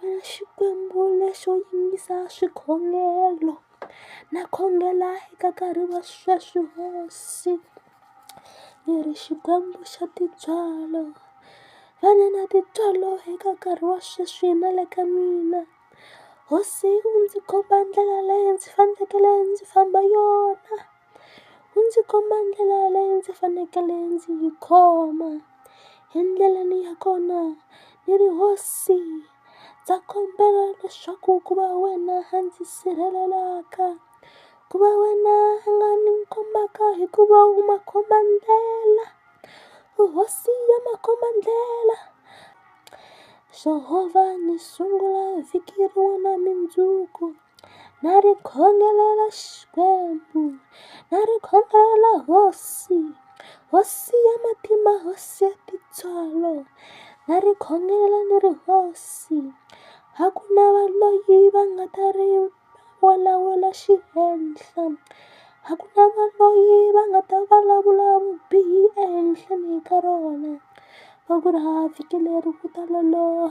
Wena Xikwembu lexo yingisa swikhongelo na khongela eka nkarhi wa sweswi hosi ni ri Xikwembu xa tintswalo va ni na tintswalo eka nkarhi wa sweswi na le ka mina hosi u ndzi komba ndlela leyi ndzi fanekele ndzi famba yona. u ndzi komba ndlela leyi ndzi fanekele ndzi yi khoma endleleni ya kona ni ri hosi ndza kombela leswaku ku va wena a ndzi sirhelelaka ku va wena a nga ni kombaka hikuva u makhomba ndlela u hosi ya makhomba ndlela Jehova ni sungula vhiki rin'wana na mundzuku. na ri khongelela Xikwembu na ri khongelela hosi hosi ya matimba hosi ya tintswalo na ri khongelela ni ri hosi a ku na va loyi va nga ta ri vulavula xihenhla a ku na va loyi va nga ta vulavula vubihi ehenhleni ka rona va ku ri ha vhiki leri ku ta loloha.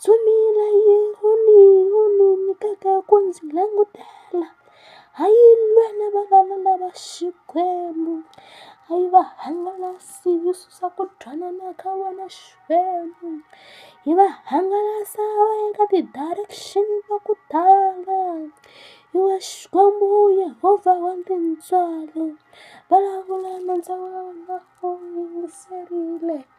Dzumile yi wu ni wu ni nyikaka ku ndzi langutela ha yi lwe na valala lava Xikwembu a yi va hangalasi yi susa ku twanana ka vona Xikwembu yi va hangalasa va ya ka ti-direction ta ku tala yi va Xikwembu Yehovha wa tintswalo vulavula nandza wa wena u yingiserile.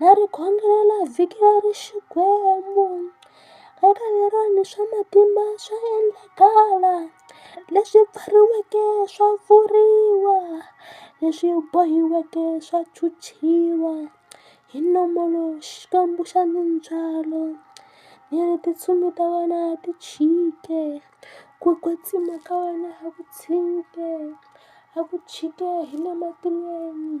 Na ri khongelela vhiki leri Xikwembu ka ka lerani swa matimba swa endlakala leswi pfariweke swa pfuriwa leswi bohiweke swa chuchiwa hi nomu lowu Xikwembu xa mindzwalo ni ri tintsumi ta wena ti chike ku kwetsima ka wena a ku tshike a ku chike hi le matilweni.